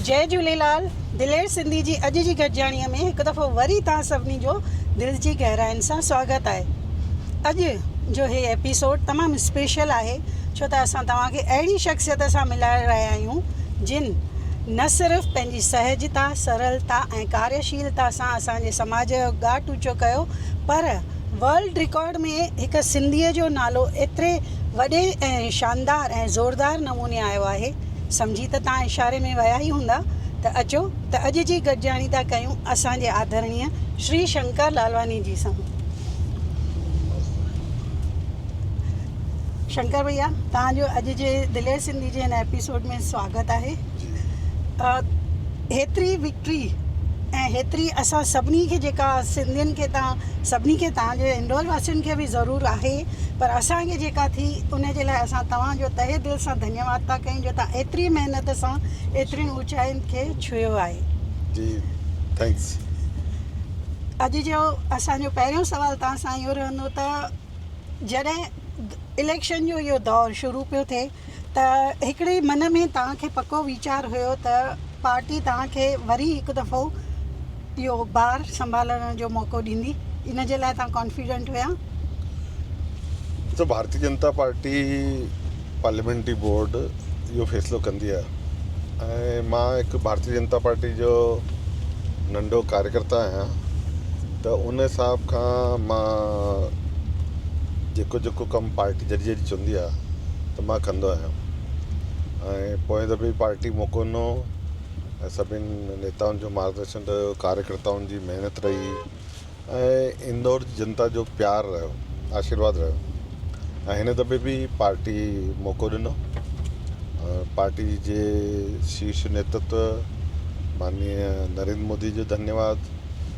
جئي جهوليلال دلير سنڌي جي اڄ جي گڏجاڻيء ۾ هڪ دفعو وري توهان سڀني جو دل جي گهراين سان سواگت آهي اڄ جو هي ايپيسوڊ تمام اسپيشل آهي ڇو ته اسان توهان کي اهڙي شخصيت سان ملائي رهيا آهيون جن نه صرف پنهنجي سهجتا سرلتا ۽ ڪاريشيلتا سان اسان جي سماج جو ڳاٽ اوچو ڪيو پر ورلڊ رڪارڊ ۾ هڪ سنڌيء جو نالو ايتري وڏي ۽ شاندار ۽ زوردار نموني آيو آهي. سمجهي ته توهان اشاري ۾ ويا ئي هوندا ته اچو ته اڄ جي گڏجاڻي ٿا ڪيون اسان جي آڌرڻيء شري شنڪر لالواني جي سان. شنڪر ڀئيا توهان جو اڄ جي دلير سنڌي جي هن ايپيسوڊ ۾ سواگت آهي. هيتري وڪٽري ۽ هيتري اسان سڀني کي جيڪا سنڌين کي تان سڀني کي تان جي هنڊول واسين کي به ضرور آهي پر اسان کي جيڪا ٿي ان جي لاء اسان توهان جو تهه دل سان ڌنيواد ٿا ڪيون جو تان ايتري محنت سان ايترين اوچائين کي ڇهيو آهي جي ٿينڪس. اڄ جو اسان جو پهريون سوال توهان سان اهو رهندو ته جڏهن اليڪشن جو اهو دور شروع پيو ٿئي ته هڪڙي من ۾ توهان کي پڪو ويچار هيو ته پارٽي توهان کي وري هڪ دفعو اهو بار سنڀالڻ جو موقعو ڏيندي ان جي لاء توهان ڪانفيڊنٽ هيا؟ ڏسو Bharatiya Janata Party parliamentary board اهو فيصلو ڪندي آهي ۽ مان هڪ ڀارتي جنتا پارٽي جو ننڍو ڪاريڪرتا آهيان ته ان حساب کان مان جيڪو جيڪو ڪم پارٽي جڏهن جڏهن چوندي آهي ته مان ڪندو آهيان ۽ پوئين دفعي به پارٽي موقعو ڏنو ۽ سڀين نيتائن جو مارگ درشن رهيو ڪاريڪرتائن جي محنت رهي ۽ اندور جي جنتا جو پيار رهيو آشيرواد رهيو ۽ هن دفعي به پارٽي موقعو ڏنو پارٽي جي شيش نيتتو ماننيه نريندر مودي جو ڌنيواد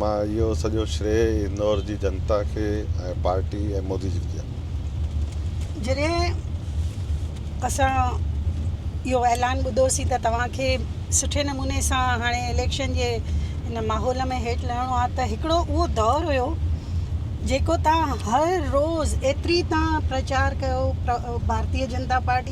مان اهو سڄو شريء اندور جي جنتا کي ۽ پارٽي ۽ مودي جي ڪيا. جڏهن اسان اهو اعلان ٻڌوسين ته توهان کي سٺي نموني سان هاڻي اليڪشن جي ان ماحول ۾ هيٺ لهڻو آهي ته هڪڙو اهو دور هيو جيڪو تان هر روز ايتري تان پرچار ڪيو ڀارتي جنتا پارٽي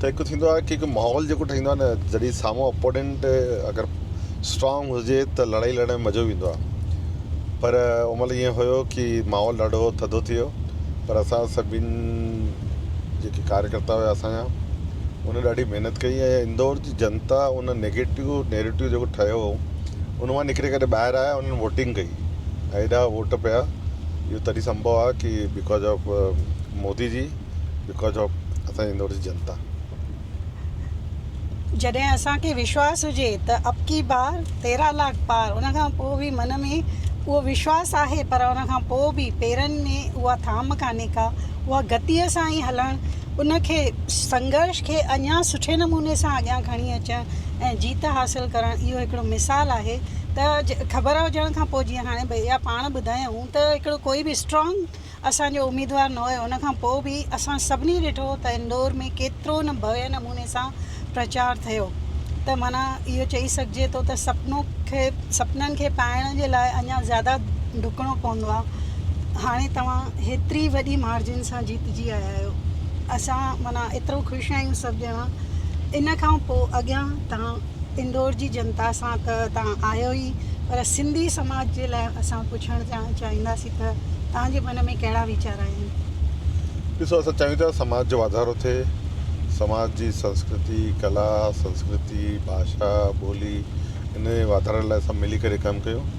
ته هڪ ٿيندو آهي ڪي هڪ ماحول جيڪو ٺهيندو آهي نه جڏهن سامهون اپونينٽ اگر اسٽرانگ هجي ته لڙائي لڙڻ ۾ مزو به ايندو آهي پر ان مهل ائين هيو ڪي ماحول ڏاڍو ٿڌو ٿي ويو پر اسان سڀين جيڪي ڪاريڪرتا هيا اسانجا انهن ڏاڍي محنت ڪئي ۽ اندور جي جنتا ان نيگيٽو نيريٽو جيڪو ٺهيو هو ان مان نڪري ڪري ٻاهر آيا انهن ووٽنگ ڪئي ۽ ايڏا ووٽ پيا اهو تڏهن سمبهو آهي ڪي بڪاز آف مودي جي بڪاز آف اسان جي اندور جي جنتا. جڏهن اسان کي وشواس هجي ته ابڪي بار تيرهن لاک پار ان کان پوء به من ۾ اهو وشواس آهي پر ان کان پوء به پيرن ۾ اها ٿام ڪانهي ڪا اها گتيء سان ئي هلڻ ان کي سنگهرش کي اڃا سٺي نموني سان اڳيان کڻي اچڻ ۽ جيت حاصل ڪرڻ اهو هڪڙو مثال آهي ته خبر هجڻ کان پوء جيئن هاڻي ڀيا پاڻ ٻڌايائون ته هڪڙو ڪوئي به اسٽرانگ اسان جو اميدوار نه هيو ان کان پوء به اسان سڀني ڏٺو ته اندور ۾ ڪيترو نه ڀوين نموني سان پرچار ٿيو ته معنيٰ اهو چئي سگهجي ٿو ته سپنو کي سپنن کي پائڻ جي لاء اڃا زياده ڊڪڻو پوندو آهي هاڻي توهان هيتري وڏي مارجن سان جيتجي آيا آهيو اسان معنيٰ ايترو خوش آهيون سڀ ڄڻا ان کان پوء اڳيان توهان اندور جي جنتا سان ته توهان آهيو ئي پر سنڌي سماج جي لاء اسان پڇڻ چاهينداسين ته توهان جي من ۾ ڪهڙا ويچار آهن؟ ڏسو اسان چاهيون ٿا سماج جو واڌارو ٿئي، سماج جي سنسڪرتي، ڪلا، سنسڪرتي، ڀاشا، ٻولي ان جي واڌاري لاء سڀ ملي ڪري ڪم ڪيون.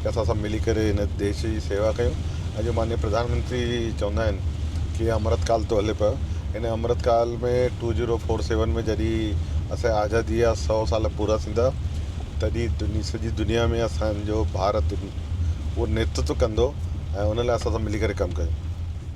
ته اسان سڀ ملي ڪري هن ديش جي سيوا ڪيون ۽ جو مانيو پرڌان منتري جي چوندا آهن ڪي امرت ڪال ٿو هلي پيو هن امرت ڪال ۾ ٽو زيرو فور سيون ۾ جڏي اسان جي آزادي جا سو سال پورا ٿيندا تڏي دني سڄي دنيا ۾ اسان جو ڀارت اهو نيتتو ڪندو ۽ ان لاء اسان سڀ ملي ڪري ڪم ڪيون.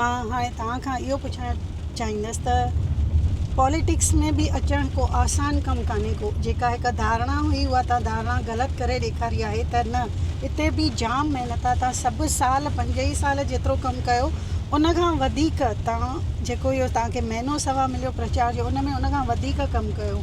مان هاڻي توهان کان اهو پڇڻ چاهيندس ته پاليٽڪس ۾ به اچڻ ڪو آسان ڪم ڪانهي ڪو جيڪا هڪ ڌارڻا هئي اها توهان ڌارڻا غلط ڪري ڏيکاري آهي ته نه اتي به جام محنت آهي توهان سڀ سال پنج ئي سال جيترو ڪم ڪيو ان کان وڌيڪ توهان جيڪو اهو توهان کي مهينو سوا مليو پرچار جو ان ۾ ان کان وڌيڪ ڪم ڪيو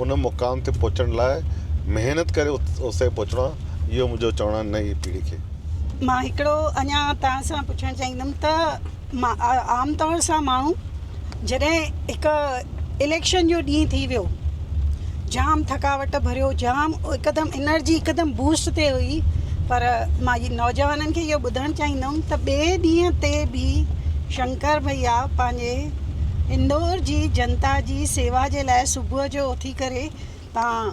ان مقام تي پهچڻ لاء محنت ڪري اتي تائين پهچڻو آهي اهو منهنجو چوڻ آهي نئين پيڙهي کي. مان هڪڙو اڃا توهان سان پڇڻ چاهيندم ته عام طور سان ماڻهو جڏهن هڪ اليڪشن جو ڏينهن ٿي ويو جام ٿڪاوٽ ڀريو جام هڪدم انرجي هڪدم بوسٽ تي هئي پر مان نوجوانن کي اهو ٻڌائڻ چاهيندم ته ٻئي ڏينهن تي به شنڪر ڀئيا پنهنجي اندور جي جنتا جي سيوا جي لاء صبح جو اٿي ڪري تان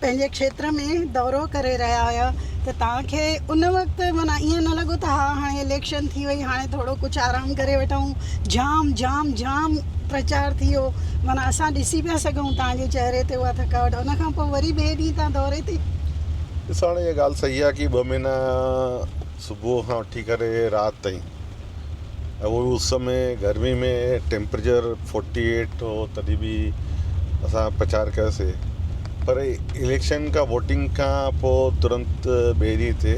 پنهنجي کيتر ۾ دورو ڪري رهيا هيا ته تان کي ان وقت معنيٰ ائين نه لڳو ته ها هاڻي اليڪشن ٿي وئي هاڻي ٿورو ڪجهه آرام ڪري وٺون جام جام جام پرچار ٿي ويو معنيٰ اسان ڏسي پيا سگهون تان جي چهري تي اها ٿڪاوٽ ان کان پوء وري ٻئي ڏينهن تان دوري تي ڏسو هاڻي اها ڳالهه صحيح آهي ڪي ٻه مهينا صبح کان وٺي ڪري رات تائين اهڙي اس ۾ گرمي ۾ ٽيمپريچر فورٽي ايٽ هو تڏهن به اسان پڇاڙ ڪياسي پر اليڪشن کان ووٽنگ کان پوء ترنت ٻئي ڏينهن تي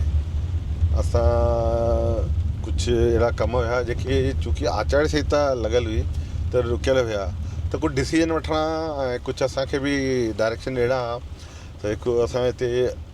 اسان ڪجهه اهڙا ڪم هيا جيڪي چونڪي آچار سنهتا لڳل هئي ته رڪيل هيا ته ڪجهه ڊسيزن وٺڻا ۽ ڪجهه اسان کي به ڊائريڪشن ڏيڻا ته هڪ اسان هتي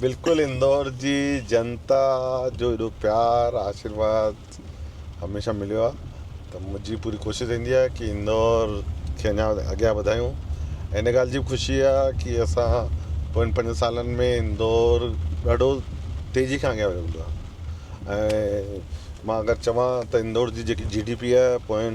بلڪل اندور جي جنتا جو ايڏو پيار آشيرواد هميشه مليو آ ته منهنجي پوري ڪوشش رهندي آ ڪي اندور کي اڃا اڳيان وڌايون ۽ ان ڳالهه جي به خوشي آ ڪي اسان پوين پنجن سالن ۾ اندور ڏاڍو تيزي کان اڳيان ويو هوندو آ ۽ مان اگر چوان ته اندور جي جيڪي جي ڊي پي آ پوين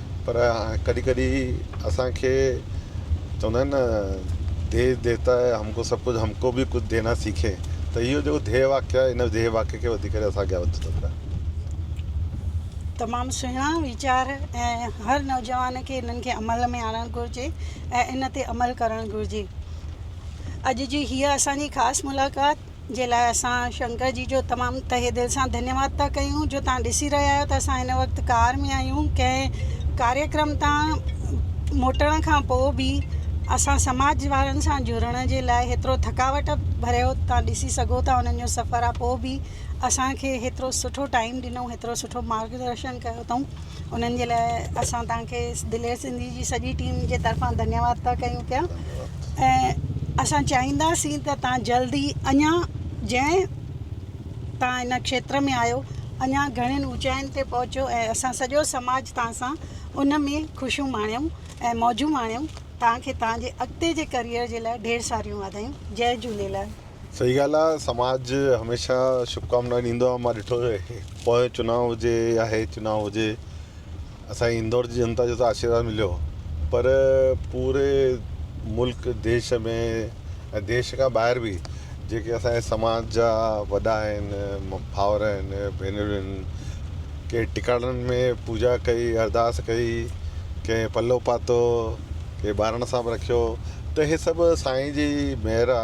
پر ڪڏهن ڪڏهن اسان کي چوندا آهن نه ديو ديوتا هي هم ڪو سڀ ڪجهه هم ڪو به ڪجهه دينا سيکي ته اهو جيڪو ڌيئي واڪ آهي ان ڌيئي واڪ کي وڌي ڪري اسان اڳيان وڌو ٿو پيا. تمام سهڻا ويچار ۽ هر نوجوان کي انهن کي عمل ۾ آڻڻ گهرجي ۽ ان تي عمل ڪرڻ گهرجي اڄ جي هيء اسان جي خاص ملاقات جي لاء اسان شنڪر جي جو تمام تهه دل سان ڌنيواد ٿا ڪيون جو توهان ڏسي رهيا آهيو ته اسان هن وقت ڪار ۾ آهيون ڪنهن ڪاريه ڪرم تان موٽڻ کان پوء به اسان سماج وارن سان جڙڻ جي لاء هيترو ٿڪاوٽ ڀريو توهان ڏسي سگهو ٿا انهن جو سفر آ پوء به اسان کي هيترو سٺو ٽائيم ڏنو هيترو سٺو مارگ درشن ڪيو اٿئون انهن جي لاء اسان توهان کي دلير سنڌي جي سڄي ٽيم جي طرفان ڌنيواد ٿا ڪيون پيا ۽ اسان چاهينداسين ته توهان جلدي اڃا جنهن توهان ان کيتر ۾ آهيو اڃا گهڻين اوچائين تي پهچو ۽ اسان سڄو سماج توهان سان ان ۾ خوشيون ماڻيون ۽ موجون ماڻيون توهان کي توهان جي اڳتي جي ڪريئر جي لاء ڍير ساريون واڌايون جي جهوليلال صحيح ڳالهه آ سماج هميشه شڀڪامنا ڏيندو آ مان ڏٺو آهي پوء چناء هجي يا هي چناء هجي اسان جي اندور جي جنتا جو ته آشيرواد مليو پر پوري ملڪ ديش ۾ ۽ ديش کان ٻاهر به جيڪي اسان جي سماج جا وڏا آهن ڀائر آهن ڀينريون آهن ڪنهن ٽڪاڙن ۾ پوڄا ڪئي، ارداس ڪئي، ڪنهن پلو پاتو، ڪنهن ٻارڻ سان به رکيو ته اهي سڀ سائين جي مهر آ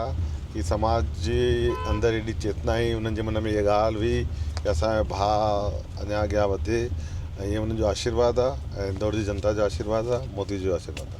ڪي سماج جي اندر ايڏي چيتنا آئي انهن جي من ۾ اها ڳالهه هئي ڪي اسان جو ڀاء اڃان اڳيان وڌي ۽ اهي انهن جو آشيرواد آ ۽ اندور جي جنتا جو آشيرواد آ مودي جو آشيرواد آ.